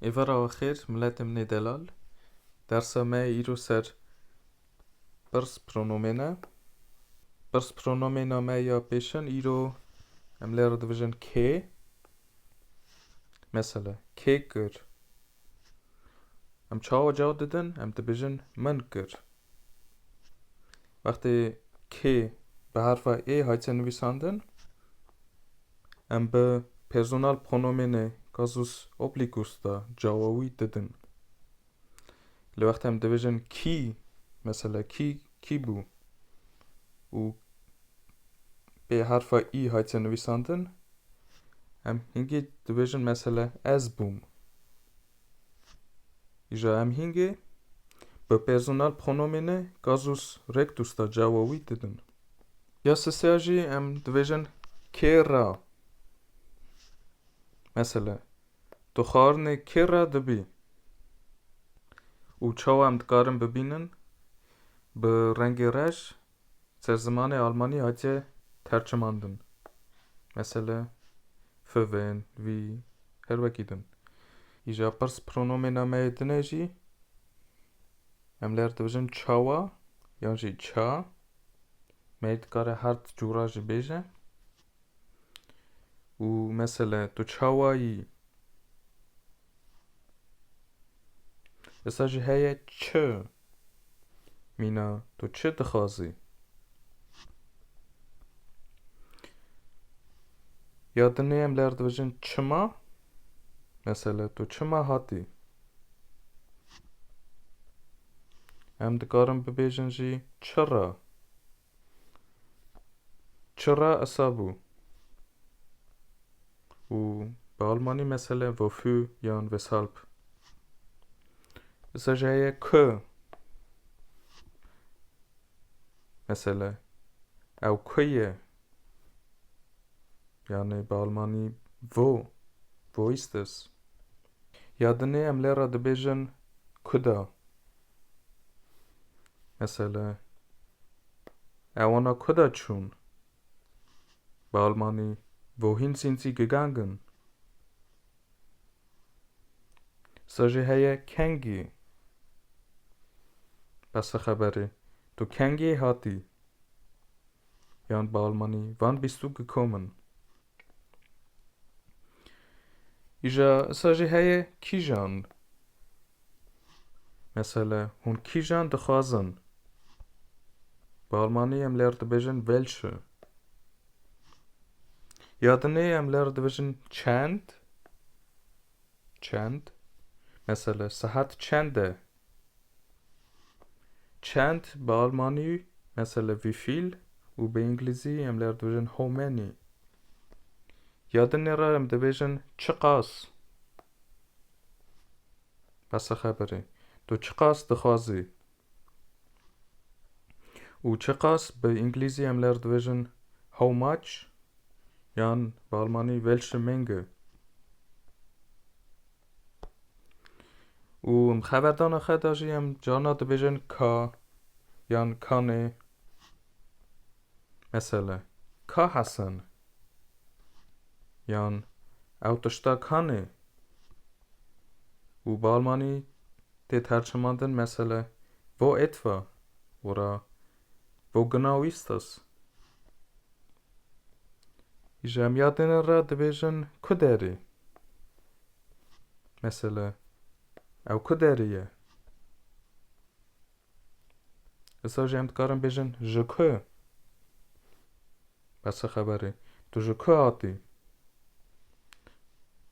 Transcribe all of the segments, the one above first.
Êvara we xêr miletê min ê delal. Dersa me îro ser pirs pronomên e. Pirs pronomêna me ya pêşin îro em lê re divijin kê. Mesela kê kir? Em çawa cevap didin? Em dibijin min kir. Wextê K bi herfa ê hate nivîsandin, em bi personal pronomênê kasus obligus de cawa wî didin. Li wextê em dibêjin kî, mesela kî, kî bû û pê herfa î hate nivîsandin, em hingê dibêjin mesela ez bûm. Îja em hîngê bi personal pronomêne kasus rectus da cawa wî didin. Ya sisêya jî em dibêjin kê ra. Mesela, tu xwarinê kê ra dibî? Û çawa em dikarin bibînin? Bi rengê rej Ser zimanê almanî hatiye tercimandin. Mesele, fi, vin, vî, her wekî din. Îja pirs pronomêna me yê din e jî em ler dibijin çawa yan jî ça. Me yê dikare hard cûra jî bêje. û mesele tu çawa yî? Êsta jî heye çi? Mîna tu çi dixwazî? Ya dinê em ler dibêjin çima? Mesele tu çima hatî? Em dikarin bibêjin jî çira? Çira esabû û bi almanî mesele wofû yan weshalb. Isa jeye ku mesele ew ku ye yani bi almanî wo wo ist es. Ya dinê em lê re dibêjin kuda. Mesela, ew wana ku de çûn? Bi almanî, Wohin sind Sie gegangen? Sa jî heye kengî. Besa xeberê, tu kengî hatî? Yan bi almanî, Wann bist du gekommen? Îja sa jî heye kîjan. Mesela hûn kîjan dixwazin. Bi Almanî em ler dibêjin welche. Ya dinê em ler dibêjin çend. Çend. Mesela sahat çend e. Çend bi almanî, mesele wie viel, û bi înglîzî em lê re dibêjin how many. Ya din nê re em dibêjin çiqas. Besa xeberê. Tu çiqas dixwazî. Û çiqas bi înglîzî em lê re dibêjin how much yan bi almanî welche Menge. Û em xeberdana xwe de jî em carna dibêjin ka yan kanê. Mesela ka Hesen yan ew tişta kanê û balmanî tê tercimandin mesela vo etva wira Bognawistas. Îja em ya dêne re dibêjin ku derê. Mesela ew ku derê ye. Îsa jî em dikarin bêjin ji ku. Besa xeberê. Tu ji ku hatî?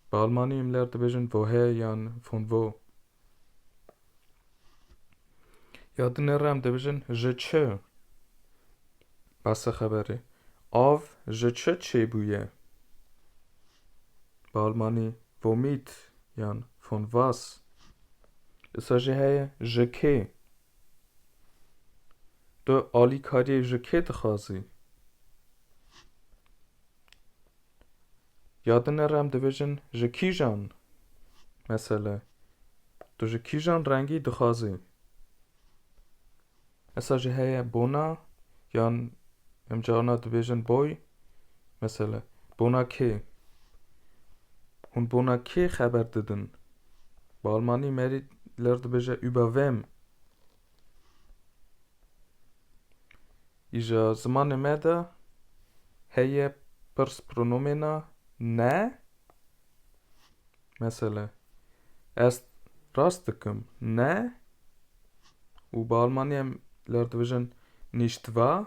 Bi almanî em ler dibêjin vohe yan von wo. Ya tu nêre em dibijin ji çi? Base xeberê. Av ji çi çêbûye? Bi almanî vomit yan von was. Disa jî heye ji kê? Tu alîkariyê ji kê dixwazî? Ya din nere em dibêjin ji kîjan mesele tu ji kîjan rengî dixwazî esa jî heye bona yan em carna dibêjin boy mesele bona kê hûn bona kê xeber didin bi almanî merî ler dibêje über wem Îja zimanê me de heye pirs pronomêna ne. Mesele, ez rast dikim ne û bi almanî em lar dibêjin nicht wahr.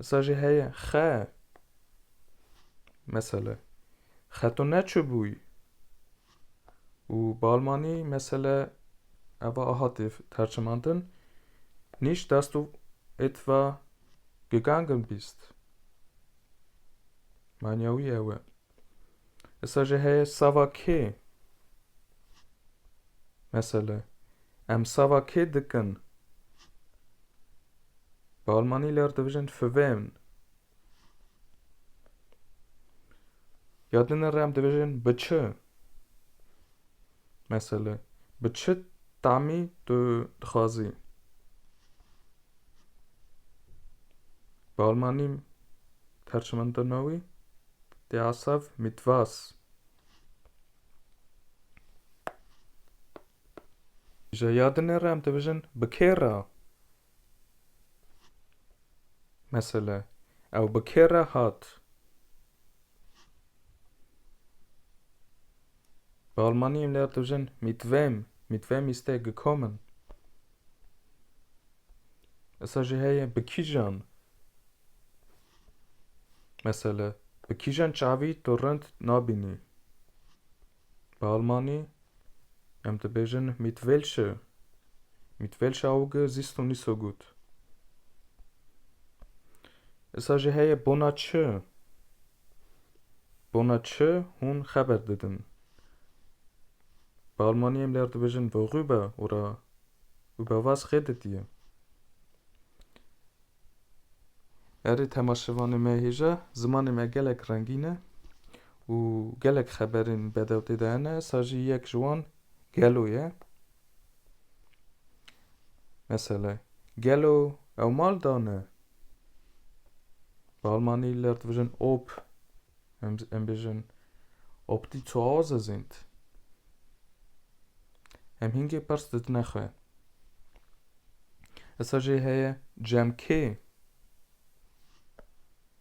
Îsa jî heye xe. Mesele, xeto neçibûyî. Û bi almanî mesele eva a hatî tercimandin, Nicht dass du etwa gegangen bist. Manya wî ew e. Îsa jî heye sava kê. Mesele em sava kê dikin. Bi almanî ler dibijin für wen. Ya dinê re em dibêjin bi çi? Mesele bi çi tamî tu dixwazî? Bi almanî tercimendina wî der Asaf mit was? Ji ya dinê re em dibêjin bi kê re? Mesele, Ew bi kê re hat? Bi almanî em lê dijin mit wem, mit wem ist er gekommen? Esa jî heye bi kîjan? Mesele, Bi kîjan çavî tu rind nabînî? Bi almanî em dibêjin mit welche, mit welche Auge siehst du nicht so gut? Îsa jî heye bona çi? Bona çi hûn xeber didin? Bi almanî em ler dibêjin worüber oder über was redet ihr? Erê temaşevanê me hêja, zimanê me gelek rengîn e û gelek xeberên bedew tê de hene, sa jî yek ji wan Gelo ye. Mesela, Gelo ew mal dane? Bi almanî li ir dibijin ob. Em bêjin, Ob die zu Hause sind. Em hingê pers didine xwe. Esa jê heye cem kê?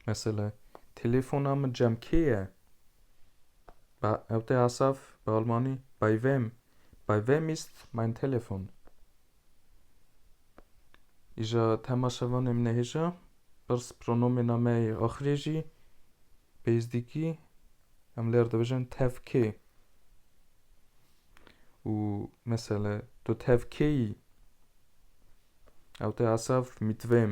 Mesela, telefona min cem kê ye? Ba, ew tê Asaf, bi Almanî, bei wem? Bei wem ist mein Telefon? Îja temaşevanê min e hêja, pirs pronomêna me yê axirê jî pêzdîkî em lêr dibijin tev kê. Û mesele tu tev kêyî? Ew tê esaf mîtvêm.